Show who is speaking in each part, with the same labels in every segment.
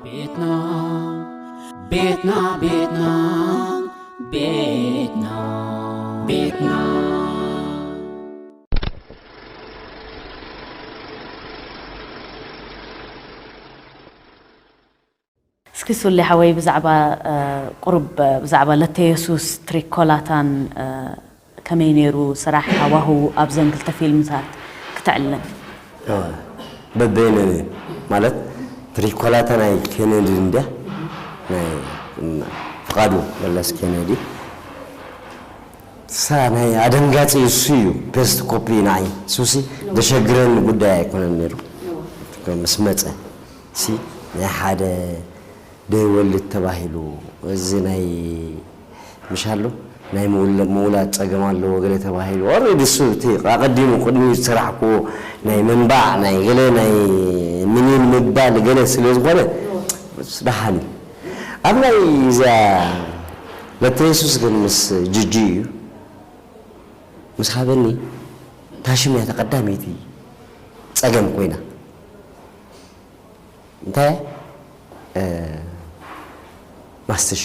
Speaker 1: ቤትና ቤትና ቤትና ቤትና ቤትና
Speaker 2: እስኪ ሱሌ ሓወይ ብዛዕባ ቁሩብ ብዛዕባ ለተየሱስ ትሪኮላታን ከመይ ነይሩ ስራሕ ሃዋህዉ ኣብዘን ክልተ ፊልምታት ክትዕልም? በበይነን
Speaker 3: እየን ማለት ፕሪኮላ እታ ናይ ኬነዲ እንድያ ናይ ፍቃዱ መለስ ኬነዲ እሳ ናይ ኣደንጋጺ እሱ እዩ ፔስት ኮፒ ንዓይ እሱሲ ደሸግረኒ ጉዳይ ኣይኮነን ነይሩ ምስ መጸ እሲ ናይ ሓደ ደይወልድ ተባሂሉ እዚ ናይ ምሻሉ ናይ ምውላድ ጸገም ኣለዎ ገለ ተባሂሉ ኦሬዲ እሱ እቲ ኣቐዲሙ ቅድሚኡ ዝሰራሕክዎ ናይ ምንባዕ ናይ ገለ ናይ ምኒን ምባል ገለ ስለ ዝኾነ እሱ ደሓን እዩ ኣብ ናይ እዚኣ ለተየሱስ ግን ምስ ጅጂ እዩ ምስ ሃበኒ ታሽም እያ ተቐዳመይቲ ጸገም ኮይና እንታይ ማስትሽ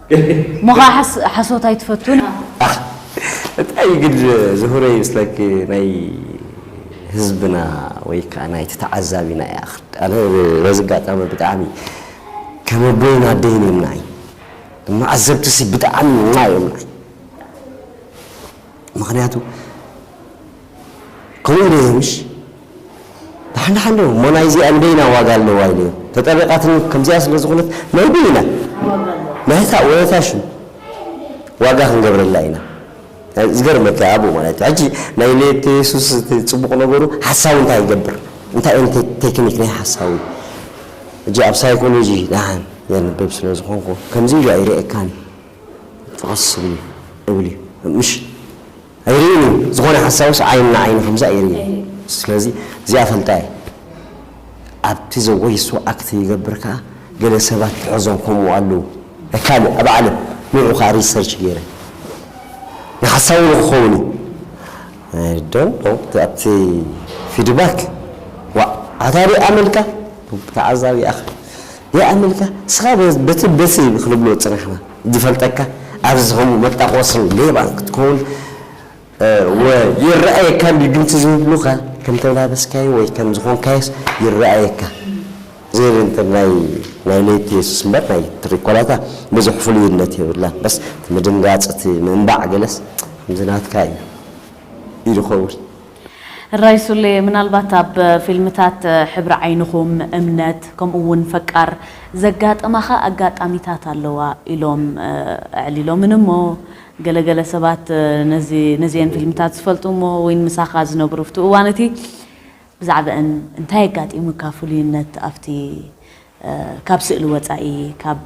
Speaker 2: ሞኻሕ ሓሶት ኣይትፈቱን ኢኻ። ኣኽ
Speaker 3: እንታይ እዩ ግን ዝሁረይ ምስ ለኪ ናይ ህዝብና ወይ ከኣ ናይቲ ተዓዛቢና እያ ኣነ በዚ ኣጋጣሚ ብጣዕሚ ከም ኣቦይን ኣደይን እዮም ንዓይ ንመዓዘብቲሲ ብጣዕሚ እዮም ንዓይ ምኽንያቱ ከምኡ ኢለ እየ ምሽ ደሓን ደሓን ዶ እሞ ናይ እዚኣ ንበይና ዋጋ ኣለዋ ኢለ እየ ተጠሪቓትኒ ከምዚኣ ስለ ዝኾነት ናይ በይና ናይታ ወይታ ሽም ዋጋ ክንገብረላ ኢና ዝገርመካ ኣብኡ ማለት እዩ ሕጂ ናይ ሌት የሱስ ፅቡቕ ነገሩ ሓሳዊ እንታይ ይገብር እንታይ እን ቴክኒክ ናይ ሓሳዊ እጂ ኣብ ሳይኮሎጂ ደሓን የንብብ ስለ ዝኾንኩ ከምዚ ኢሉ ኣይርእየካን ፍቕስ እብል እዩ እብል እዩ ምሽ ኣይሪኢን እዩ ዝኮነ ሓሳዊስ ዓይኒ ንዓይኒ ከምዚ ኣይሪኢን ስለዚ እዚኣ ፈልጣ እየ ኣብቲ ዘጎይሶ ኣክት ይገብር ከኣ ገለ ሰባት ትሕዞም ከምኡ ኣለዉ ናይ ካልእ ኣብ ዓለም ንዑ ከኣ ሪሰርች ገይረ ንሓሳዊ ንክከውን እዩ ኣይ ዶንት ኖው ኣብቲ ፊድባክ ዋእ ኣታ ሪኣ መልካ ተዓዛቢ ኣክ ሪኣ መልካ እስካ በቲ በቲ ክንብሎ ጽናሕና ዝፈልጠካ ኣዚ ዝከውን መጣቆስን ሌባን ክትከውን ወ ይረኣየካ እንድዩ ድምጺ ዝብሉካ ከም ተላበስካዮ ወይ ከም ዝኮንካዮስ ይረኣየካ ዝብል እንተ ናይ ናይ ለይቲ የሱስ እምበር ናይ ትሪኮላታ ብዙሕ ፍሉይነት የብላን በስ እቲ ምድንጋጽ እቲ ምንባዕ ገለስ ከምዚ ናትካ እዩ ኢሉ ክከውን
Speaker 2: እራይ ሱሌ ምናልባት ኣብ ፊልምታት ሕብሪ ዓይንኹም፣ እምነት ከምኡ ውን ፈቃር ዘጋጠማኻ ኣጋጣሚታት ኣለዋ ኢሎም ኣዕሊሎምኒ እሞ ገለ ገለ ሰባት ነዚ ነዚኤን ፊልምታት ዝፈልጡ እሞ ውን ምሳኻ ዝነብሩ ኣብቲ እዋን እቲ ብዛዕበእን እንታይ ኣጋጢሙካ ፍሉይነት ኣብቲ ካብ ስእሊ ወጻኢ፣ ካብ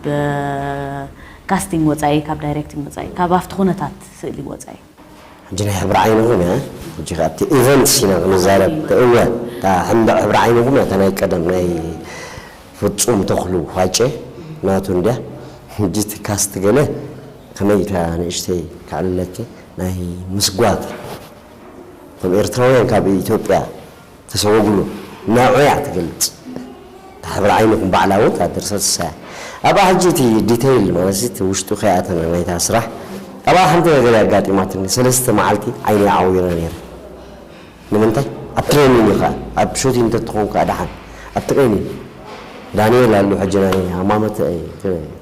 Speaker 2: ካስቲንግ ወጻኢ፣ ካብ ዳይሬክቲንግ ወጻኢ፣ ካብ ኣብቲ ኩነታት ስእሊ ወጻኢ። ሕጂ ናይ ሕብሪ
Speaker 3: ዓይኒ ኹን እያ ሕጂ ከኣ ኣብቲ ኢቨንትስ ኢና ክንዛረብ እወ እታ ሕንብዕ ሕብሪ ዓይኒ ኹን እያ እታ ናይ ቀደም ናይ ፍጹም ተኽሉ ሃጬ ናቱ እንድያ ሕጂ እቲ ካስት ገለ ከመይ ኢልካ ንእሽተይ ከዕልለኪ ናይ ምስጓግ እቶም ኤርትራውያን ካብ ኢትዮጵያ ተሰወጉሉ ናዑ እያ ትገልጽ እታ ሕብሪ ዓይኑ ክም ባዕላ ውን እታ ድርሰት እሳ እያ ኣብኣ ሕጂ እቲ ዲተይል ማለት እቲ ውሽጡ ከይኣተና ናይታ ስራሕ ኣብኣ ሓንቲ ነገር እያ ኣጋጢማትኒ ሰለስተ መዓልቲ ዓይነይ ዓዊረ ነይረ ንምንታይ ኣብ ትሬኒን ኢኻ ኣብ ሹቲን እንተትኾን ከኣ ደሓን ኣብ ትሬኒን ዳንኤል ኣሉ ሕጂ ናይ ሃማመተ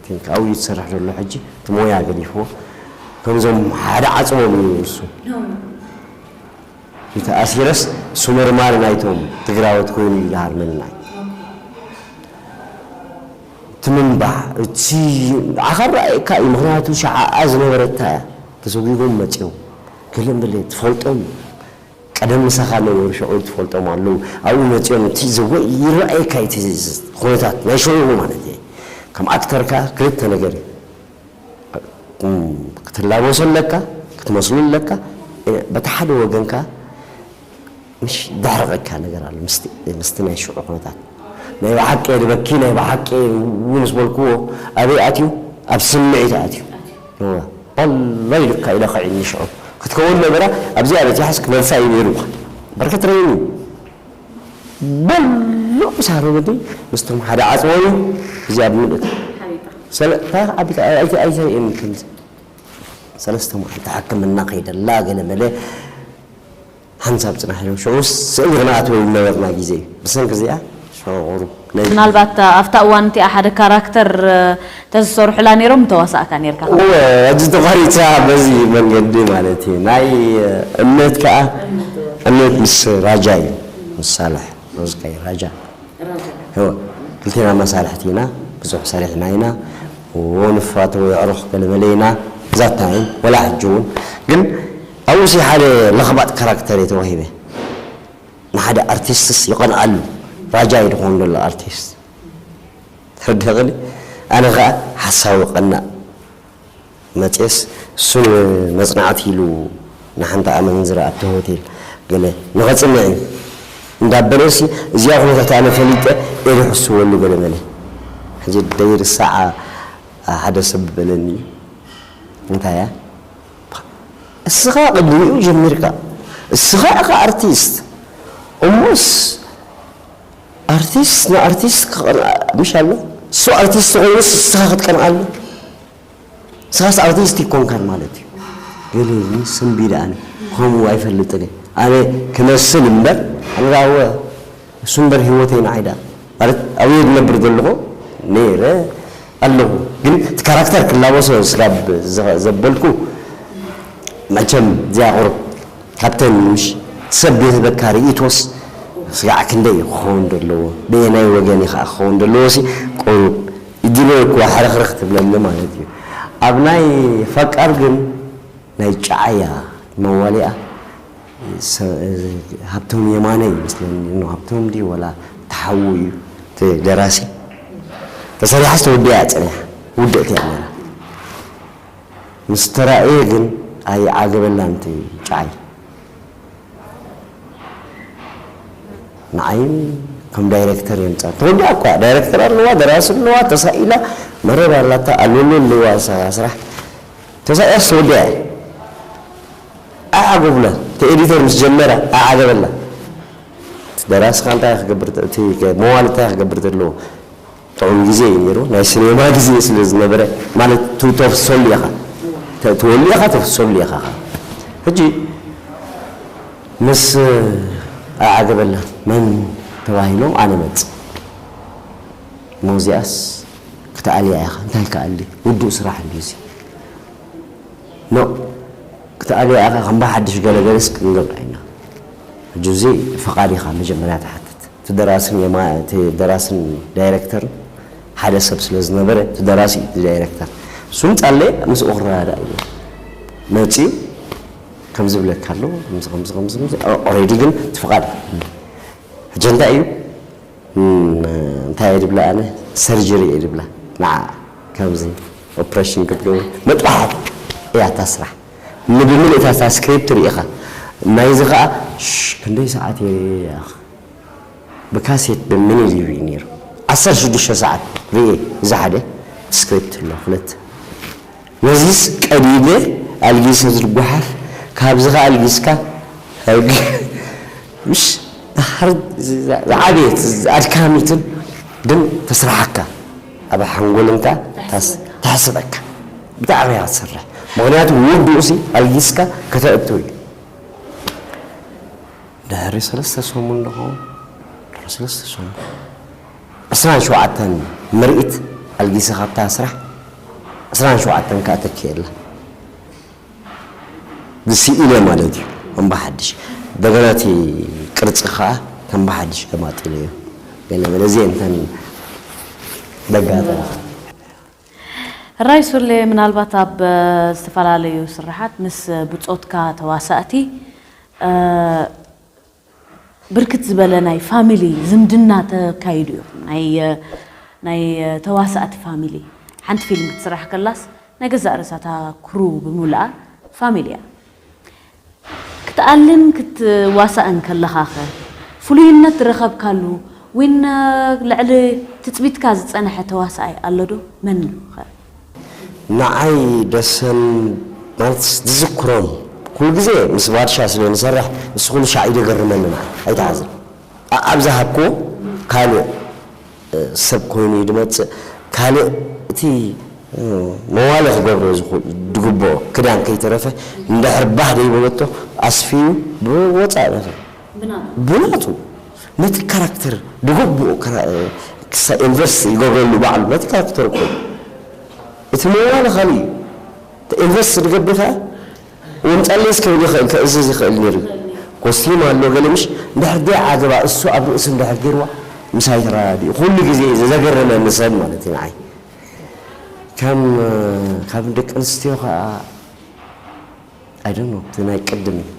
Speaker 3: ቲንክ ኣብኡ እዩ ዝሰርሕ ዘሎ ሕጂ እቲ ሞያ ገዲፍዎ ከምዞም ሓደ ዓጽሞም እዩ ንሱ እንተኣሲረስ ሱመርማር ናይቶም ትግራዎት ኮይኑ እዩ ድሃር መናይ ትምንባዕ እቲ ንዓኻ ራኣየካ እዩ ምኽንያቱ ሽዓኣ ዝነበረታ እያ ተሰጉጎም መፅዮም ገለ መለ ትፈልጦም ቀደም ምሳኻ ነበሩ ሽዑ ትፈልጦም ኣለው ኣብኡ መፅዮም እቲ ዘወ ይራኣየካ እቲ ኹነታት ናይ ሽዑኡ ማለት እየ ከም ኣክተር ከኣ ክልተ ነገር እዩ ክትላበሶ ኣለካ ክትመስሎ ኣለካ በቲ ሓደ ወገን ከኣ ምሽ ደሕርቐካ ነገር ኣሎ ምስቲ ናይ ሽዑ ኩነታት ናይ ብሓቂ እየ ድበኪ ናይ ብሓቂ እው ምስ በልክዎ ኣበይ ኣትዩ ኣብ ስምዒት ኣትዩ ኦላይ ልካ ኢለ ክዒኒ ሽዑ ክትከውን ነበራ ኣብዚኣ በጺሓስ ክመልሳ እዩ ነይሩ በርክት ረይኒ ምሉእ ሳህሉ ግዲ ምስቶም ሓደ ዓጽዎ እዩ እዚ ኣብ ምሉእ እቲ ሰለታ ኣቢታ ኣይቲ ኣይታይ እም ከምዚ ሰለስተ መዓልቲ ሕክምና ከይደላ ገለ መለ ሓንሳብ ጽናሕ ኢሎም ሸውስ ስእሊ ክነኣትወሉ ነበርና ግዜ እዩ ብሰንኪ እዚኣ ሸቑሩ ናይ ምናልባት
Speaker 2: ኣብታ እዋን እቲኣ ሓደ ካራክተር ተዝሰርሑላ ኔሮም ምተዋሳእካ ኔርካ ካብ እወ እዋን ሕጂ
Speaker 3: ተቋሪጻ በዚ መንገዲ ማለት እዩ ናይ እምነት ከኣ እምነት ምስ ራጃ እዩ ምስ ሳልሕ ሮዝካይ ራጃ እወ ክልቴና መሳርሕቲ ኢና ብዙሕ ሰሪሕና ኢና እወ ንፋተዎ የዕሩኽ ገለ መለ ኢና that time ወላ ሕጂ ውን ግን ኣብኡ ሲ ሓደ ለኽባጥ ካራክተር እየ ተዋሂበ ንሓደ ኣርቲስትስ ይቀንኣሉ ራጃ እዩ ድኮን ደሎ ኣርቲስት ትርድክኒ ኣነ ከኣ ሓሳዊ ቀናእ መጽየስ እሱ ንመጽናዕቲ ኢሉ ንሓንቲ ኣመንዝራ ኣብቲ ሆቴል ገለ ንከጽንዕ እዩ እንዳበለሲ እዚኣ ኩነታት ኣነ ፈሊጠ እየ ዝሕስወሉ ገለ መለ ሕጂ ደይርሳዓ ሓደ ሰብ በለኒ እንታይ እያ እስኻ ቅድሚኡ ጀሚርካ እስኻ ኢኻ ኣርቲስት እሞስ ኣርቲስት ንኣርቲስት ክቀንኣ ምሽ ኣሎ እሱ ኣርቲስት ኮይኑስ እስኻ ክትቀንኣሉ እስኻስ ኣርቲስት ኣይኮንካን ማለት እዩ ገሌኒ ስንቢደ ኣነ ከምኡ ኣይፈልጥን ኣነ ክመስል እምበር ኣነ ዳወ እሱ እምበር ሂወተይ ንዓይ ድኣ ማለት ኣብየ ድነብር ዘለኹ ነይረ ኣለኹ ግን እቲ ካራክተር ክላበሶ ስጋብ ዘበልኩ መቸም እዚኣ ቁሩብ ካብተን ምሽ እቲ ሰብ ድህበካ ሪኢቶስ ስጋዕ ክንደይ እዩ ክኸውን ደለዎ በየናይ ወገን እዩ ከኣ ክኸውን ደለዎ ሲ ቁሩብ እጅለ እኳ ሕርኽርኽ ትብለኒ ማለት እዩ ኣብ ናይ ፈቃር ግን ናይ ጨዓያ መዋሊኣ ሃብቶም የማነ እዩ መስለኒ እኖ ሃብቶም ድዩ ወላ እቲ ሓዉ እዩ እቲ ደራሲ ተሰሪሓስ ተወዲኣ እያ ጸኒሓ ውድእቲ እያ ነይራ ምስ ተራእየ ግን ኣይዓገበላን እቲ ጨዓይ ንዓይ ከም ዳይረክተር የምጻ ተወዲኣ እኮ እያ ዳይረክተር ኣለዋ ደራሲ ኣለዋ ተሳኢላ መረብ ኣላታ ኣሎሎ ኣለዋ ስራሕ ተሳኢያስ ተወዲኣ እያ ኣዓጎብና እቲ ኤዲተር ምስ ጀመረ ኣዓገበና እቲ ደራሲ ከኣ እንታይ ክገብር እቲ መዋሊ እንታይ ክገብር ዘለዎ ጥዑም ግዜ እዩ ነይሩ ናይ ሲኔማ ግዜ ስለ ዝነበረ ማለት ተፍሰሉ ኢኻ ተወሊ ኢኻ ተፍሰሉ ኢኻ ከኣ ሕጂ ምስ ኣዓገበና መን ተባሂሎም ኣነ መጽ ሞዚያስ ክትኣልያ ኢኻ እንታይ ክኣሊ ውዱእ ስራሕ እንድዩ እዚ ኖእ ክትኣልያ ኢካ ከም ብሓድሽ ገለ ገለስ ክንገብራ ኢና ሕጂ እዚ ፍቃድ ኢካ መጀመርያ ትሓትት እቲ ደራስን የማን እቲ ደራስን ዳይረክተርን ሓደ ሰብ ስለ ዝነበረ እቲ ደራሲ እዩ እቲ ዳይረክተር ንሱ ምጻለየ ምስኡ ክረዳዳእ ኢልና መጽዩ ከምዚ ብለካ ኣሎ ከምዚ ከምዚ ከምዚ ከምዚ ኦሬዲ ግን እቲ ፍቃድ ሕጂ እንታይ እዩ እንታይ እየ ድብላ ኣነ ሰርጀሪ እየ ድብላ ንዓኣ ከምዚ ኦፕሬሽን ክትገብር መጥባሕቲ እያ እታ ስራሕ ንብምልእ እታ እታ ስክሪፕት ርኢኻ ናይዚ ከዓ ክንደይ ሰዓት እየ ርእየ ያኽ ብካሴት ደምኒ ሊቭ እዩ ነይሩ ዓሰርተ ሽዱሽተ ሰዓት ርእየ እዚ ሓደ ስክሪፕት ኣሎ ክልተ ነዚስ ቀዲደ ኣልጊሰ ዝጓሓፍ ካብዚ ከኣ ኣልጊስካ ኣልጊ ምሽ ዳሓር ዝዓበየት ኣድካሚትን ግን ተስራሓካ ኣብ ሓንጎልንካ ተሕስበካ ብጣዕሚ እያ ትሰርሕ ምክንያቱ ውዱቅሲ ኣልጊስካ ከተእቱ እዩ ድሕሪ ሰለስተ ሰሙን ዶ ክከውን ድሕሪ ሰለስተ ሰሙን። ዕስራን ሸውዓተን ምርኢት ኣልጊሰ ካብታ ስራሕ ዕስራን ሸውዓተን ከኣ ተኪኤላ ስኢነ ማለት እዩ ከምባሓድሽ እንደገና እቲ ቅርጺ ከኣ ከምባሓድሽ ገማጢለዮ ገለ በለ እዚኤን እተን ደጋጠማ
Speaker 2: ራይ ሱሌ ምናልባት ኣብ ዝተፈላለዩ ስርሓት ምስ ብጾትካ ተዋሳእቲ ብርክት ዝበለ ናይ ፋሚሊ ዝምድና ተካይዱ እዩ ናይ ናይ ተዋሳእቲ ፋሚሊ ሓንቲ ፊልም ክትስራሕ ከላስ ናይ ገዛእ ርእሳ እታ ክሩ ብምልኣ ፋሚሊ እያ ክትኣልን ክትዋሳእን ከለኻኸ ፍሉይነት ዝረኸብካሉ ዊን ልዕሊ ትጽቢትካ ዝጸነሐ ተዋሳኣይ ኣሎዶ መን እዩኸ?
Speaker 3: ንዓይ ደሰን ማልትስ ዝዝክሮም ኩሉ ግዜ ምስ ባድሻ ስለ ንሰርሕ እሱ ኩሉ ሻዕ እዩ ደገርመኒ ንዓይ ኣይትሓዝን ኣኣብ ዝሃብክዎ ካልእ ሰብ ኮይኑ እዩ ድመጽእ ካልእ እቲ መዋሊ ክገብሮ ድግብኦ ክዳን ከይተረፈ እንድሕር ባህ ደይበለቶ ኣስፍዩ ብወጻኢ ብናቱ። ብናቱ ነቲ ካራክተር ብግቡእ ክሳ ኢንቨስት ይገብረሉ ባዕሉ ነቲ ካራክተር እኮ እዩ እቲ መዋሊ ካልእ እዩ ኢንቨስት ድገብር ከኣ ወምጣለይስ ክብል ይኽእል ከእዝዝ ይኽእል ኔሩ እዩ ኮስትዩም ኣሎ ገለ ምሽ እንድሕር ደይ ዓገባ እሱ ኣብ ርእሱ እንድሕር ጌርዋ ምሳይ ተራዳዲኡ ኩሉ ግዜ ዘገረመኒ ሰብ ማለት እዩ ንዓይ ከም ካብ ደቂ ኣንስትዮ ከኣ I don't know እቲ ናይ ቅድም እዩ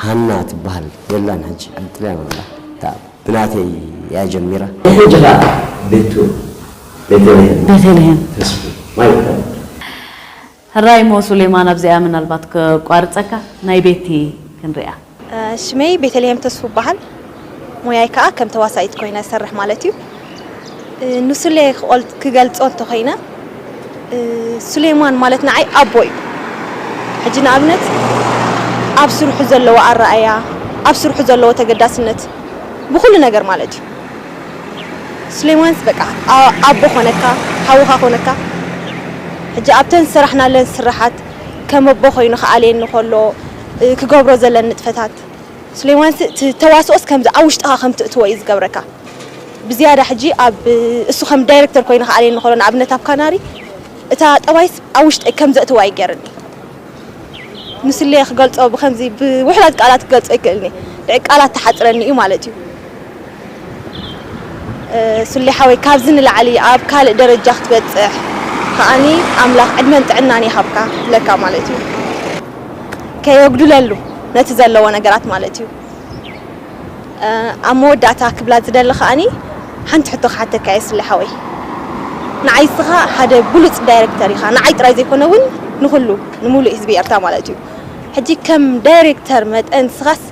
Speaker 3: ሃና ትበሃል የላን ሕጂ ኣንጥልያ ኣላ እታ ብናተይ እያ ጀሚራ። ናይ ሕጂ ከኣ ቤቱ ቤተልሄም
Speaker 2: ቤተልሄም ተስፉ ማለት
Speaker 3: እዩ።
Speaker 2: ሕራይ እሞ ሱሌማን ኣብዚኣ ምናልባት ከቋርጸካ ናይ ቤቲ ክንሪኣ። ሽመይ
Speaker 4: ቤተልሄም ተስፉ እባሃል ሞያይ ካኣ ከም ተዋሳኢት ኮይነ ዝሰርሕ ማለት እዩ ንሱሌ ክገልጾ እንተኮይነ ሱሌማን ማለት ንዓይ ኣቦ እዩ ሕጂ ንኣብነት ኣብ ስርሑ ዘለዎ ኣራኣእያ ኣብ ስርሑ ዘለዎ ተገዳስነት ብኩሉ ነገር ማለት እዩ ሱሌማንስ በቃ ኣቦ ኮነካ ሓውካ ኮነካ ሕጂ ኣብተን ዝሰራሕናለን ስራሓት ከም ኣቦ ኮይኑ ክኣልየኒ ከሎ ክገብሮ ዘለኒ ንጥፈታት ሱሌማን እቲ ተዋስኦስ ከምዚ ኣብ ውሽጥኻ ከም ትእትዎ እዩ ዝገብረካ ብዝያዳ ሕጂ ኣብ እሱ ከም ዳይረክተር ኮይኑ ክኣልየኒ ከሎ ንኣብነት ኣብ ካናሪ እታ ጠባይስ ኣብ ውሽጠይ ከም ዘእትዋ እዩ ገይርኒ ንሱሌ ክገልጾ ብከምዚ ብውሑዳት ቃላት ክገልጾ ኣይክእልን እየ ልዕሊ ቃላት ትሓጽረኒ እዩ ማለት እዩ። ሱሌ ሓወይ ካብዚ ንላዕሊ ኣብ ካልእ ደረጃ ክትበጽሕ ከኣኒ ኣምላኽ ዕድመን ጥዕናን ይሃብካ ክብለካ ማለት እዩ። ከየጉድለሉ ነቲ ዘለዎ ነገራት ማለት እዩ። ኣብ መወዳእታ ክብላ ዝደሊ ከኣኒ ሓንቲ ሕቶ ክሓተካ እየ ሱሌ ሓወይ ንዓይ እስኻ ሓደ ብሉጽ ዳይረክተር ኢኻ ንዓይ ጥራይ ዘይኮነ እውን ንኹሉ ንምሉእ ህዝቢ ኤርትራ ማለት እዩ ሕጂ ከም ዳይረክተር መጠን እስኻስ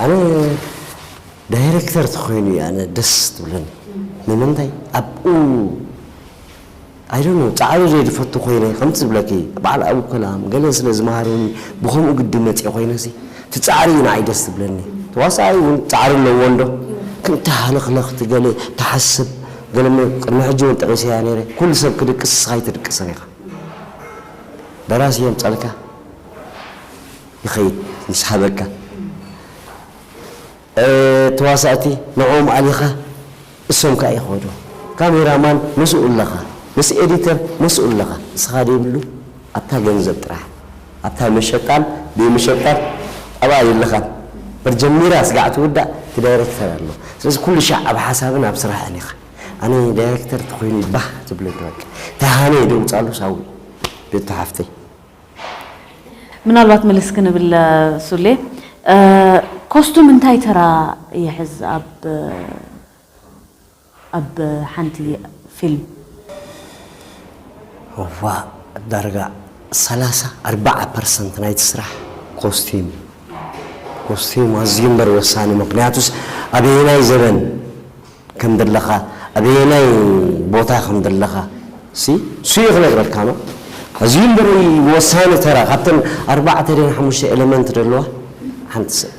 Speaker 3: ኣነ ዳይረክተር ተኮይኑ እዩ ኣነ ደስ ትብለኒ ንምንታይ ኣብኡ ኣይደኖ ፃዕሩ ዘይድፈቱ ኮይነ ከምቲ ዝብለኪ በዓል ኣብኡ ከላም ገለ ስለ ዝመሃሩኒ ብከምኡ ግዲ መፅኦ ኮይነሲ እቲ ፃዕሪ እዩ ንዓይ ደስ ትብለኒ ተዋሳኣይ እውን ፃዕሪ ኣለዎ እንዶ ከምቲ ሃለክለክ እቲ ገለ ተሓስብ ገለ ቅድሚ ሕጂ እውን ጠቂሰያ ነይረ ኩሉ ሰብ ክድቅስ እስካ ኣይትድቅስን ኢካ ደራሲ የምፀልካ ይኸይድ ምስ ሃበካ ተዋሳእቲ ንዕኦም ኣሊኻ እሶም ካኣ ይኸዱ ካሜራ ማን ምስኡ ኣለኻ ምስ ኤዲተር መስኡ ኣለኻ ንስኻ ደይብሉ ኣብታ ገንዘብ ጥራሕ ኣብታ መሸጣን ደይመሸጣን ኣብኣ ኣይለኻን መርጀሚራ ስጋዕ ትውዳእ እቲ ዳይረክተር ኣሎ ስለዚ ኩሉ ሻዕ ኣብ ሓሳብን ኣብ ስራሕን ኢኻ ኣነ ዳይረክተር ተኾይኑ ባህ ዝብለኒ በቃ ተሃነይ ደውጻሉ ሳዊ ቤቱ ሓፍተይ
Speaker 2: ምናልባት ምልስ ክንብል ሱሌ ኮስቱም እንታይ ተራ ይሕዝ ኣብ ኣብ ሓንቲ ፊልም?
Speaker 3: እዋእ ዳርጋ ሰላሳ ኣርባዓ ፐርሰንት ናይቲ ስራሕ ኮስቲም እዩ። ኮስቲም ኣዝዩ እምበር ወሳኒ ምኽንያቱስ ኣበየናይ ዘበን ከም ደለኻ ኣበየናይ ቦታ ከም ደለኻ ሲ ሱየ ክነግረካ ነው ኣዝዩ እምበሪ ወሳኒ ተራ ካብተን ኣርባዕተ ድየን ሓሙሽተ ኤለመንት ደለዋ ሓንቲ ሰብ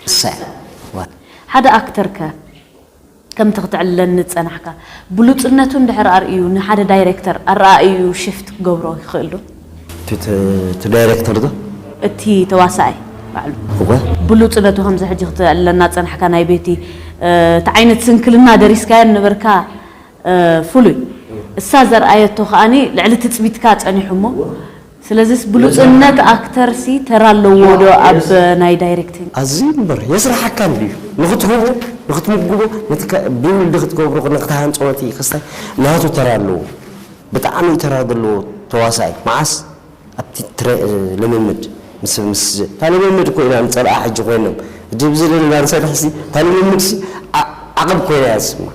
Speaker 3: እሳ እያ።
Speaker 2: ሓደ ኣክተር ከ ከምቲ ክተዕልለኒ ዝጸናሕካ ብሉጽነቱ እንድሕር ኣርእዩ ንሓደ ዳይረክተር ኣረኣእይኡ ሽፍት ክገብሮ ይኽእል ዶ? እቲ
Speaker 3: ዳይረክተር ዶ? እቲ ተዋሳኣይ
Speaker 2: ባዕሉ። እወ። ብሉጽነቱ
Speaker 3: ከምዚ
Speaker 2: ሕጂ ክትእለና ዝጸናሕካ ናይ ቤቲ እቲ ዓይነት ስንክልና ደሪስካዮ ዝነበርካ ፍሉይ። እሳ ዘርኣየቶ ከኣ ልዕሊ ትጽቢትካ ጸኒሑ እሞ ስለዚስ ብሉጽነት ኣክተር ሲ ተራ ኣለዎ ዶ ኣብ ናይ ዳይረክቲንግ? ኣዝዩ እምበር
Speaker 3: የስርሓካ እንድዩ ንኽትህቦ ንኽትምግቦ ነቲ ብ ወልዲ ክትገብሮ ንኽትሃንጾ ነቲ ክስታይ ናቱ ተራ ኣለዎ። ብጣዕሚ ተራ ዘለዎ ተዋሳኣይ ማዓስ ኣብቲ ትረ ልምምድ ምስ ምስ እታ ልምምድ እኮ ኢና ንጸልኣ ሕጂ ኮይኖም እጂ ብዚ ለለና ንሰርሕ ሲ እታ ልምምድ ሲ ዓቅብ ኮይና እያ ዝስማዕ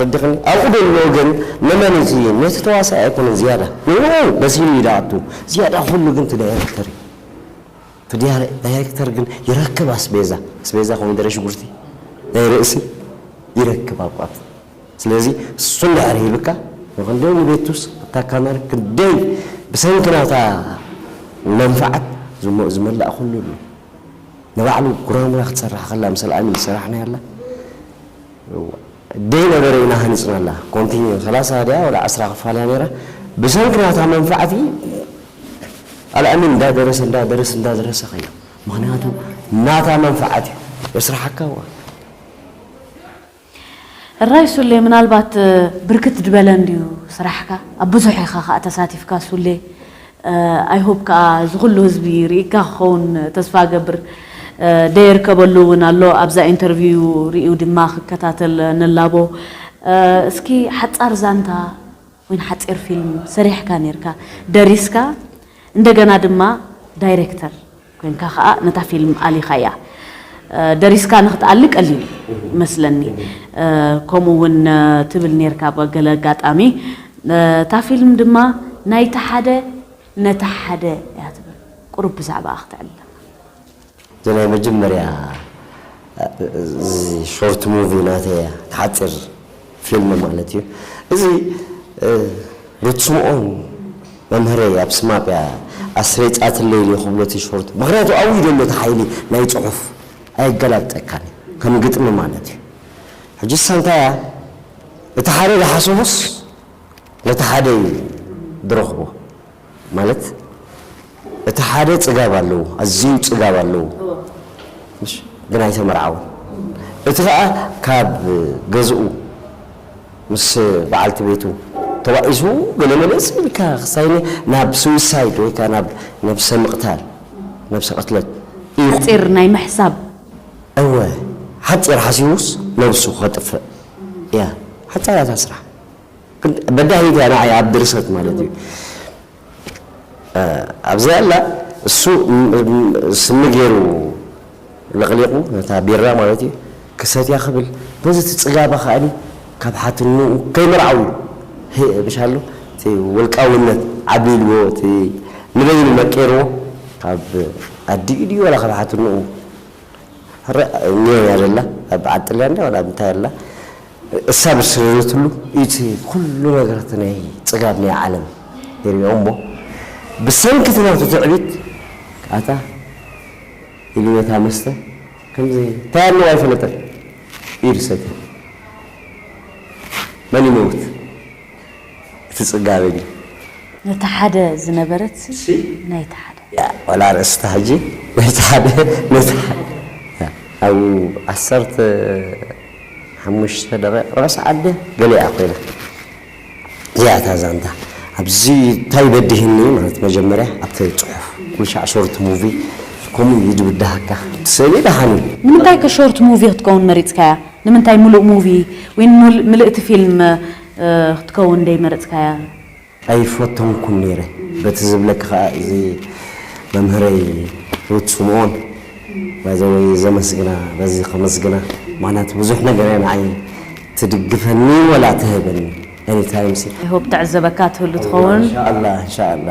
Speaker 3: ረዲክኒ ኣብኡ ደሎ ግን መመን እቲ ነቲ ተዋሳኣይ ኣይኮነን ዝያዳ ንኡ መሲሉ እዩ ዳኣቱ ዝያዳ ኩሉ ግን ትዳይረክተር እዩ ትዳይ ዳይረክተር ግን ይረክብ ኣስቤዛ ኣስቤዛ ኮሚደረ ሽጉርቲ ናይ ርእሲ ይረክብ ኣብኡ ኣብቲ ስለዚ እሱ እንድሕር ሂብካ ንክንደይ ንቤቱስ እታ ካመር ክንደይ ብሰንኪ ናታ መንፍዓት ዝሞእ ዝመላእ ኩሉ ኣሎ ንባዕሉ ጉራሙራ ክትሰርሕ ከላ ምሰ ኣሚን ዝሰራሕናያላ እዋ ደይ ነበረ ኢና ሃኒጽናላ ኮንቲንዩ ሰላሳ ድያ ወላ ዕስራ ክፋል እያ ነይራ ብሰንኪ ናታ መንፍዓት ኣልኣሚን እንዳ ደረሰ እንዳ ደረሰ እንዳ ደረሰ ከይዱ ምክንያቱ ናታ መንፍዓት እዩ የስራሓካ እዋ
Speaker 2: እራይ ሱሌ ምናልባት ብርክት ድበለ እንድዩ ስራሕካ ኣብ ብዙሕ ኢካ ካኣ ተሳቲፍካ ሱሌ ኣይ ሆብ ካኣ እዚ ኩሉ ህዝቢ ሪኢካ ክከውን ተስፋ እገብር ደየርከበሉ ውን ኣሎ ኣብዛ ኢንተርቪው ሪኡ ድማ ክከታተል ንላቦ እስኪ ሓጻር ዛንታ ን ሓጺር ፊልም ሰሪሕካ ኔርካ ደሪስካ እንደገና ድማ ዳይረክተር ኮንካ ከኣ ነታ ፊልም ኣሊኻያ ደሪስካ ንክትኣሊ ቀሊል እዩ መስለኒ ከምኡ ውን ትብል ኔርካ ብ ገለ ኣጋጣሚ እታ ፊልም ድማ ናይቲ ሓደ ነቲ ሓደ እያ ትብል ቁሩብ ብዛዕባኣ ክትዕልለና። እዚ
Speaker 3: ናይ መጀመርያ ሾርት ሙቪ ናተይ እያ ሓጺር ፊልም ማለት እዩ እዚ ሩት ስምኦን መምህረይ ኣብ ስማፕ እያ ኣስሪጻትለይ ድየ ክብሎ እቲ ሾርት ምኽንያቱ ኣብኡ እዩ ዘሎ እቲ ሓይሊ ናይ ጽሑፍ ኣየገላብጠካን እዩ ከም ግጥሚ ማለት እዩ ሕጂ እሳ እንታይ እያ እቲ ሓደ ዝሓሰቦስ ነቲ ሓደ እዩ ዝረኽቦ ማለት እቲ ሓደ ጽጋብ ኣለዎ ኣዝዩ ጽጋብ ኣለዎ ምሽ ግን ኣይተመርዓወን እቲ ከኣ ካብ ገዝኡ ምስ በዓልቲ ቤቱ ተባኢሱ ገለ መለ ጽን ኢልካ ክሳይነ ናብ ስዊሳይድ ወይ ከኣ ናብ ነብሰ ምቕታል ነብሰ ቅትለት እዩ ሓጺር ናይ
Speaker 2: ምሕሳብ እወ
Speaker 3: ሓጺር ሓሲቡስ ነብሱ ከጥፍእ እያ ሓጻር እያ እታ ስራሕ። በዳሂት እያ ንዓይ ኣብ ድርሰት ማለት እዩ ኣብዚኣ ኣላ እሱ ስኒ ገይሩ ለቕሊቑ ነታ ቢራ ማለት እዩ ክሰትያ ክብል በዚ እቲ ፅጋባ ከኣኒ ካብ ሓትንኡ ከይመርዓው ምሻሉ እቲ ውልቃውነት ዓብሊልዎ እቲ ንበይኑ መቂርዎ ካብ ኣዲኡ ድዩ ዋላ ካብ ሓትንኡ ሕረ እኒኦ እያ ዘላ ኣብ በዓል ጥልያን ድያ ዋላ ኣብ እንታይ ኣላ እሳብ ዝሰበረትሉ እቲ ኩሉ ነገራት ናይ ጽጋብ ናይ ዓለም ይሪኦ እሞ ብሰንኪ እቲ ናቱ ትዕቢት ኣታ ኢሉ ነታ መስተ ከምዚ እንታይ ኣለዎ ኣይፈለጠን ኢሉ ሰትያ መን ይመውት እቲ ጽጋበ ድዩ ነቲ ሓደ
Speaker 2: ዝነበረትሲ ናይቲ ሓደ። ዋላ
Speaker 3: ርእስታ ሕጂ ናይቲ ሓደ ነቲ ሓደ ኣብኡ ዓሰርተ ሓሙሽተ ደቂቅ ራስ ዓደ ገሊኣ ኮይና እያ እታ ዛንታ ኣብዚ ታይ በዲህኒ ማለት መጀመርያ ኣብቲ ጽሑፍ ኩልሻዕ ሾርት ሙቪ ከምኡ እዩ ድብዳሃካ እቲ ስእሊ ደሓን እዩ። ንምንታይ ከ ሾርት
Speaker 2: ሙቪ ክትከውን መሪጽካያ ንምንታይ ምሉእ ሙቪ ዊን ምልእቲ ፊልም ክትከውን ደይመረጽካያ
Speaker 3: ኣይፈተንኩን ኔረ በቲ ዝብለኪ ከኣ እዚ መምህረይ ሩት ስምኦን ባይ ዘ ወይ ዘመስግና በዚ ከመስግና ምክንያቱ ብዙሕ ነገር እያ ንዓይ ትድግፈኒ ወላ ትህበኒ ኤኒ ታይም ሲ። ኣይ ሆፕ ትዕዘበካ
Speaker 2: ትህሉ ትኸውን። እንሻ ኣላ እንሻ ኣላ።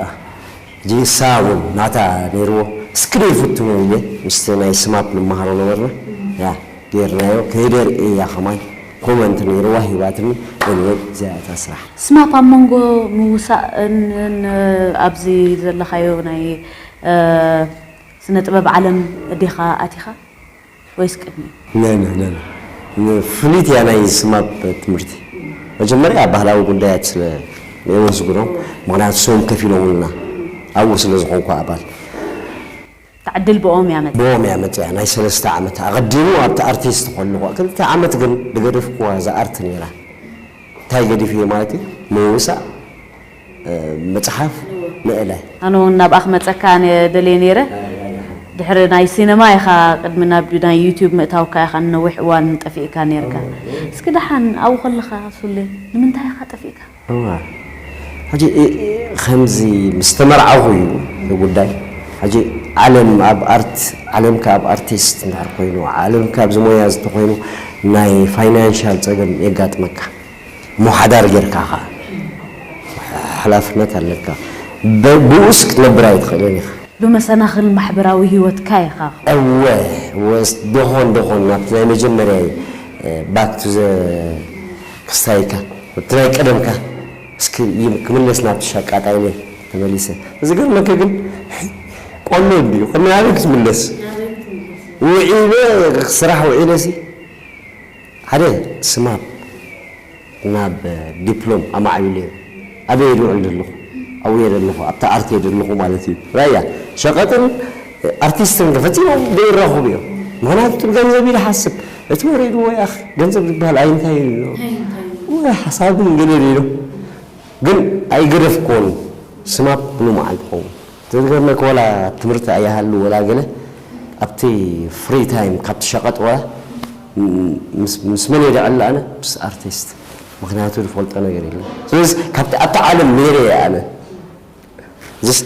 Speaker 3: ሕጂ ንሳ ውን ናታ ነይርዎ እስክሪን ይፍቱ እየ ምስቲ ናይ ስማፕ ንመሃሮ ነበርና ያ ገይርናዮ ከይደር እያ ከማን ኮመንት ነይርዋ ሂባትኒ ኤኒወይ እዚኣ እታ ስራሕ። ስማፕ ኣብ መንጎ
Speaker 2: ምውሳእ ን ኣብዚ ዘለኻዮ ናይ ስነ ጥበብ ዓለም ዲኻ ኣቲኻ? ወይስ ቅድሚ? ኖኖ
Speaker 3: ኖኖ ፍሉይት እያ ናይ ስማፕ ትምህርቲ መጀመርያ ባህላዊ ጉዳያት ስለ ነየወዝግሮ ምክንያቱ ስዎም ከፊሎሙልና ኣብኡ ስለ ዝኮንኩ ኣባል
Speaker 2: ትዓድል ብኦም እያ መጽያ። ብኦም እያ መጽያ ናይ ሰለስተ ዓመት
Speaker 3: ኣቀዲሙ ኣብቲ ኣርቲስት ኮለኩ ክልተ ዓመት ግን ድገደፍኩዋ እዛ ኣርት ነይራ እንታይ ገዲፊየ ማለት እዩ ምውሳእ፣ ምጽሓፍ ምእለ። ኣነ ውን ናብኣ
Speaker 2: ክመጸካ እየ ደልየ ነይረ ድሕሪ ናይ ሲነማ ኢኻ ቅድሚ ናብ ናይ ዩቱብ ምእታውካ ኢኻ ንነዊሕ እዋን ጠፊእካ ነይርካ እስኪ ደሓን ኣብኡ ከለኻ ሱሌ ንምንታይ ኢኻ ጠፊእካ? እወ
Speaker 3: ሕጂ ከምዚ ምስ ተመርዓኹ እዩ እቲ ጉዳይ ሕጂ ዓለም ኣብ ኣርት ዓለምካ ኣብ ኣርቲስት እንድሕር ኮይኑ ዓለምካ ኣብዚ ሞያ እዚ እንተኾይኑ ናይ ፋይናንሻል ጸገም የጋጥመካ። እሞ ሓዳር ጌርካ ኸኣ ሓላፍነት ኣለካ። ብኡስ ክትነብር ኣይትኽእልን ኢኻ። ብመሰናኽል
Speaker 2: ማሕበራዊ ህይወትካ ኢኻ ኸኣ። እወ ወስ
Speaker 3: ደኾን ደኾን ናብቲ ናይ መጀመርያይ ባክ ቱ ዘ ክስታይካ ናብቲ ናይ ቀደምካ እስኪ ክምለስ ናብቲ ሸቃጣይነይ ተመሊሰ። ዝገርመኪ ግን ቆንዶ እንድዩ ከም ናበይ ክትምለስ ውዒለ ስራሕ ውዒለሲ ሓደ ስማፕ ናብ ዲፕሎም ኣማዕቢለዮ ኣበይ እየ ልውዕል ዘለኹ ኣብኡ እየ ዘለኹ ኣብታ ኣርት እየ ዘለኹ ማለት እዩ ራያ ሸቀጥን ኣርቲስትን ከ ፈጺሞም ዘይራኹቡ እዮም ምኽንያቱ እቲ ብገንዘብ እዩ ዝሓስብ እቲ ወሪድዎ ያኺ ገንዘብ ዝበሃል ኣይ እንታይ እዩ ወይ ሓሳብን ገለ ሌሎ ግን ኣይገደፍክዎን ስማፕ ብሉማዓል ትኸውን ዝገርመካ ወላ ትምህርቲ ኣይሃሉ ወላ ገለ ኣብቲ ፍሪ ታይም ካብቲ ሸቀጥ ወላ ምስ መን እየ ድዕለ ኣነ ምስ ኣርቲስት ምክንያቱ ዝፈልጦ ነገር የለን ስለዚ ካብቲ ኣብቲ ዓለም ነይረ እየ ኣነ ዝስ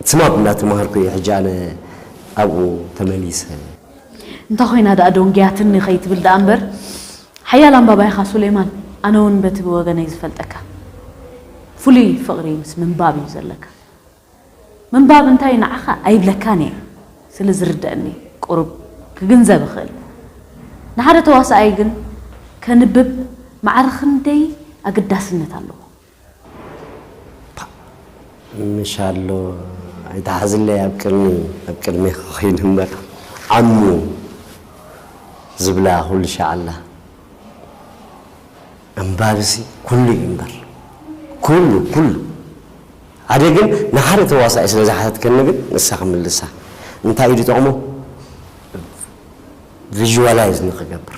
Speaker 3: ስማብ እናተማሃርኩ እየ ሕጂ ኣነ ኣብኡ ተመሊሰ
Speaker 2: እንታይ ኮይና ደኣ ደንጉያትኒ ከይትብል ደኣ እምበር ሓያል ኣንባባይ ኢኻ ሱሌማን ኣነ ውን በቲ ብወገነይ ዝፈልጠካ ፍሉይ ፍቕሪ ምስ ምንባብ እዩ ዘለካ ምንባብ እንታይ እዩ ንዓኻ ኣይብለካን እየ ስለ ዝርደኣኒ ቁሩብ ክግንዘብ እኽእል ንሓደ ተዋሳኣይ ግን ከንብብ ማዕረ ክንደይ ኣገዳስነት ኣለዎ ፓእ
Speaker 3: ምሻሎ ኣይትሓዝለይ ኣብ ቅድሚ ኣብ ቅድሜኻ ኮይኑ እምበር ዓሙ ዝብላ ኩሉ ሻዕላ ኣንባቢሲ ኩሉ እዩ እምበር ኩሉ ኩሉ ሓደ ግን ንሓደ ተዋሳኢ ስለ ዝሓተትከኒ ግን ንሳ ክምልሳ እንታይ እዩ ዝጠቕሞ ቪዥዋላይዝ ንክገብር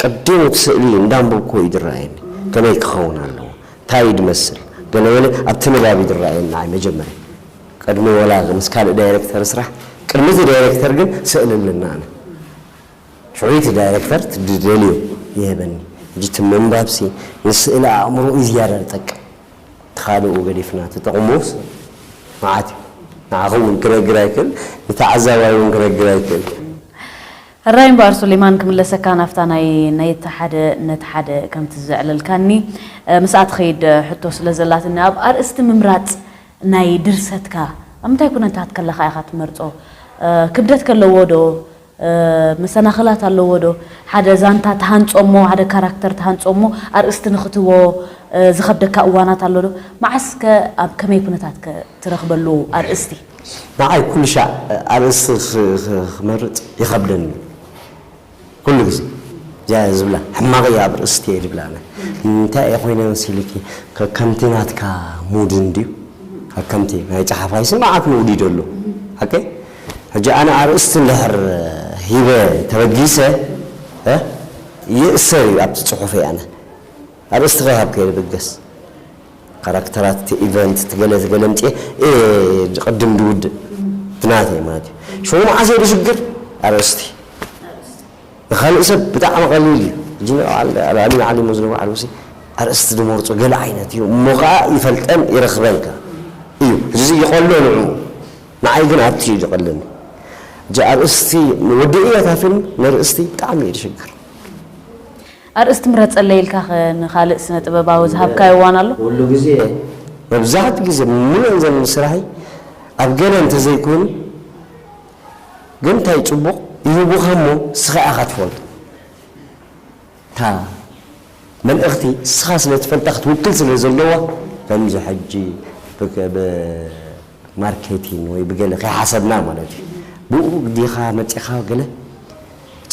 Speaker 3: ቀዲሙ እቲ ስእሊ እንዳንበብኩዎ እዩ ዝረኣየኒ ከመይ ክኸውን ኣለዎ ታይ እዩ ዝመስል ገለበለ ኣብቲ ንባብ እዩ ዝረኣየኒ ንዓይ መጀመርያ ቀድሚ ወላ ምስ ካልእ ዳይረክተር ስራሕ ቅድሚ እቲ ዳይረክተር ግን ስእሊ ኣለና ኣነ ሽዑ እቲ ዳይረክተር ዝደልዮ ይህበኒ ሕጂ እቲ ምንባብሲ ንስእሊ ኣእምሮ እዩ ዝያዳ ዝጠቅም እቲ ካልኡ ገዲፍና እቲ ጥቕሙስ መዓት እዩ ንዓኹም እውን ክነግር ኣይክእል ንተዓዛባይ እውን ክነግር ኣይክእል።
Speaker 2: ሕራይ እምበኣር ሱሌማን ክምለሰካ ናብታ ናይ ነቲ ሓደ ነቲ ሓደ ከምቲ ዘዕለልካኒ ምስኣ ትኸይድ ሕቶ ስለ ዘላትኒ ኣብ ኣርእስቲ ምምራጽ ናይ ድርሰትካ ኣብ ምንታይ ኩነታት ከለኻ ኢኻ ትመርጾ ክብደት ከለዎ ዶ መሰናኽላት ኣለዎ ዶ ሓደ ዛንታ ትሃንጾ እሞ ሓደ ካራክተር ትሃንጾ እሞ ኣርእስቲ ንኽትህቦ ዝኸብደካ እዋናት ኣሎ ዶ መዓስ ከ ኣብ ከመይ ኩነታት ከ ትረኽበሉ ኣርእስቲ ንዓይ
Speaker 3: ኩሉሻዕ ኣርእስቲ ክመርጽ ይኸብደኒ እዩ ኩሉ ግዜ እዚኣ እየ ዝብላ ሕማቕ እዩ ኣብ ርእስቲ እየ ዝብላ ኣነ እንታይ እየ ኮይነ መሲልኪ ከከምቲ ናትካ ሙድ እንድዩ ከከምቲ ናይ ጸሓፋይ ስምዓት መውዲድ ኣሎ ሓቀይ ሕጂ ኣነ ኣርእስቲ እንድሕር ሂበ ተበጊሰ ይእሰር እዩ ኣብቲ ጽሑፈይ ኣነ ኣርእስትኻ ካብ ከይበገስ ካራክተራት እቲ ኢቨንት እቲ ገለ እቲ ገለ ኣምጺኤ እየ ዝቕድም ዝውድእ እቲ ናተይ ማለት እዩ። ሽሙ መዓስ እየ ዝሽግር ኣርእስቲ ንኻልእ ሰብ ብጣዕሚ ቀሊል እዩ ሕጂ ንበዓል ኣልኣሚን ዓሊ እሞ ዝነብሩ ዓልቡሲ ኣርእስቲ ዝመርጾ ገለ ዓይነት እዩ እሞ ከኣ ይፈልጠን ይረኽበን ከኣ እዩ ሕጂ ይቐሎ ንዕኡ ንዓይ ግን ኣቲ እዩ ዝቐለኒ ሕጂ ኣርእስቲ ወዲ እየ እታ ፊልም ነርእስቲ ብጣዕሚ እየ ዝሽግር።
Speaker 2: ኣርእስቲ ምረጸለይ ኢልካኸ ንኻልእ ስነ ጥበባዊ ዝሃብካዮ እዋን ኣሎ? ኩሉ ግዜ
Speaker 3: መብዛሕትኡ ግዜ ምሉእን ዘመን ስራሕይ ኣብ ገለ እንተዘይኮይኑ ግን እንታይ ጽቡቕ ይህቡኻ እሞ እስኻ ኢኻ ትፈልጦ እታ መልእኽቲ እስኻ ስለ ትፈልጣ ክትውክል ስለ ዘለዋ ከምዚ ሕጂ ብ ማርኬቲን ወይ ብገለ ከይሓሰብና ማለት እዩ ብኡ ዲኻ መጺኻ ገለ እቲ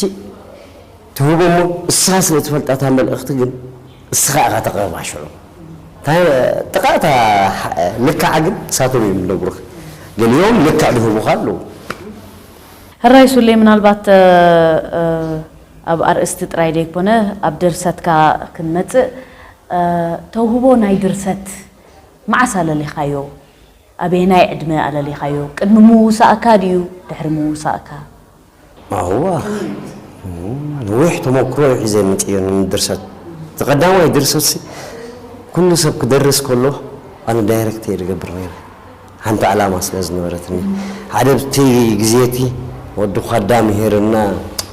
Speaker 3: ትህቦ እሞ እስኻ ስለ ትፈልጣ እታ መልእኽቲ ግን እስኻ ኢኻ ተቕርባ ሽዑ እታ ጥቓ እታ ልክዓ ግን ንሳቶም እዮም ዝነግሩኻ ገሊኦም ልክዕ ዝህቡኻ ኣለዉ።
Speaker 2: ሕራይ ሱሌ ምናልባት ኣብ ኣርእስቲ ጥራይ ዘይኮነ ኣብ ድርሰትካ ክንመጽእ ተውህቦ ናይ ድርሰት መዓስ ኣለሊኻዮ? ኣበየናይ ዕድመ ኣለሊኻዮ? ቅድሚ ምውሳእካ ድዩ ድሕሪ ምውሳእካ?
Speaker 3: ኣዋኽ ነዊሕ ተሞክሮ'ዩ ሒዘ መጺኤ ንምድርሰት። እቲ ቀዳማይ ድርሰትሲ ኩሉ ሰብ ክደርስ ከሎ ኣነ ዳይረክት'የ ዝገብር ነይረ። ሓንቲ ዕላማ ስለ ዝነበረትኒ። ሓደ ኣብቲ ግዜ'ቲ ወዲ ዃዳ ምሂርና፣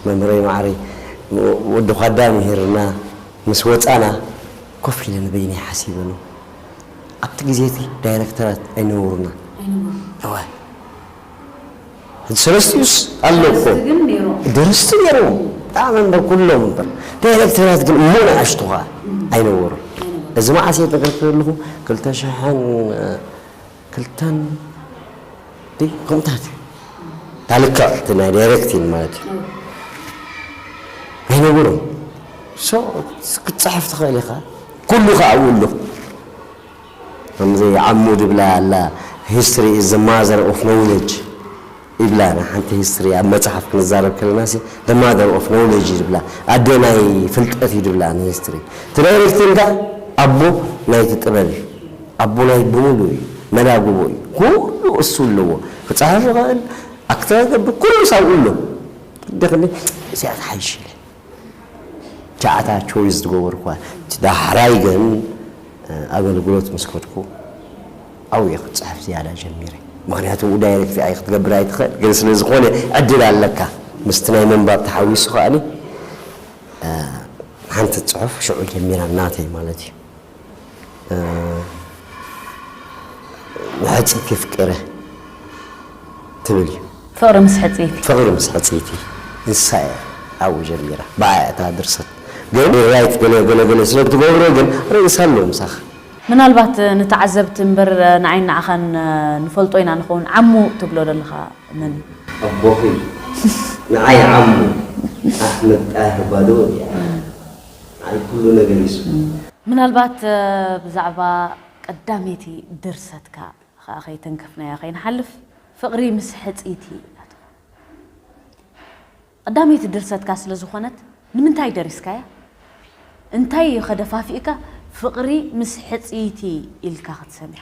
Speaker 3: መምህረይ ማዕረይ፣ ወዲ ዃዳ ምሂርና ምስ ወጻና ኮፍ ኢለ ንበይነይ ሓሲበሉ። ኣብቲ ግዜ እቲ ዳይረክተራት ኣይነበሩናን። ኣይነበሩን። እወ። ሕጂ ሰለስቲኡስ ኣለዉ እኮ። ደረስቲ ግን ኔሮም። ደረስቲ ኔሮም። ብጣዕሚ እምበር ኩሎም እምበር። ዳይረክተራት ግን እሞ ንኣሽቱ ከኣ ኣይነበሩን። ኣይነበሩን። እዚ መዓስ እየ ዝነግረኪ ዘለኹ ክልተ ሽሕን ክልተን ዲ ከምታት እዩ እታ ልክዕ እቲ ናይ ዳይሬክቲን ማለት እዩ ኣይነብሩን ሶ ክትፅሕፍ ትኽእል ኢኻ ኩሉ ከዓ ኣብኡ ኣሎ ከምዚ ዓሙ ድብላ ኣላ ሂስትሪ ኢዝ ዘ ማዘር ኦፍ ኖውለጅ ይብላ ንሓንቲ ሂስትሪ ኣብ መጽሓፍ ክንዛረብ ከለና ሲ the mother of knowledge እዩ ድብላ ኣደ ናይ ፍልጠት እዩ ድብላ ንሂስትሪ እቲ ናይ ሪክትን ከኣ ኣቦ ናይቲ ጥበብ እዩ ኣቦ ናይ ብምሉ እዩ መላግቦ እዩ ኩሉ እሱ ኣለዎ ክጽሕፍ ይኽእል ኣክት ክገብር ኩሉስ ኣብኡ ኣሎ እንተ ክንዲ እዚኣ ትሓይሽ ኢለ ቻዕታ ቾይዝ ዝገበርኩዋ እቲ ዳሕራይ ግን ኣገልግሎት ምስ ከድኩ ኣብኡ እየ ክጽሕፍ ዝያዳ ጀሚረ ምኽንያቱ ኣብኡ ዳይረክት ኣይ ክትገብር ኣይትኽእል ግን ስለ ዝኾነ ዕድል ኣለካ ምስቲ ናይ ምንባብ ተሓዊሱ ከኣኒ ሓንቲ ጽሑፍ ሽዑ ጀሚራ ናተይ ማለት እዩ። ንሕጽይቲ ፍቅረ ትብል እዩ። ፍቕሪ
Speaker 2: ምስ ሕጽይቲ። ፍቕሪ ምስ ሕጽይቲ
Speaker 3: ንሳ እያ ኣብኡ ጀሚራ ብኣያ እያ እታ ድርሰት ግን ራይት ገለ ገለ ገለ ስለ እትገብሮ ግን ርእሳ ኣሎ ምሳኻ። ምናልባት
Speaker 2: ንተዓዘብቲ እምበር ንዓይን ንዓኻን ንፈልጦ ኢና ንኸውን ዓሙ ትብሎ ዘለኻ መን እዩ? ኣቦኺ
Speaker 3: ንዓይ ዓሙ ኣሕመድ ጣህር ባዶው እያ። ኣይ ኩሉ ነገር ይስሙ። ምናልባት
Speaker 2: ብዛዕባ ቀዳመይቲ ድርሰትካ ኸኣ ከይተንከፍናያ ከይንሓልፍ፣ ፍቕሪ ምስ ሕጽይቲ ኢላትኩም። ቐዳመይቲ ድርሰትካ ስለ ዝኾነት ንምንታይ ደሪስካያ? እንታይ ኢዩኸ ደፋፊእካ ፍቕሪ ምስ ሕጽይቲ ኢልካ ክትሰምያ?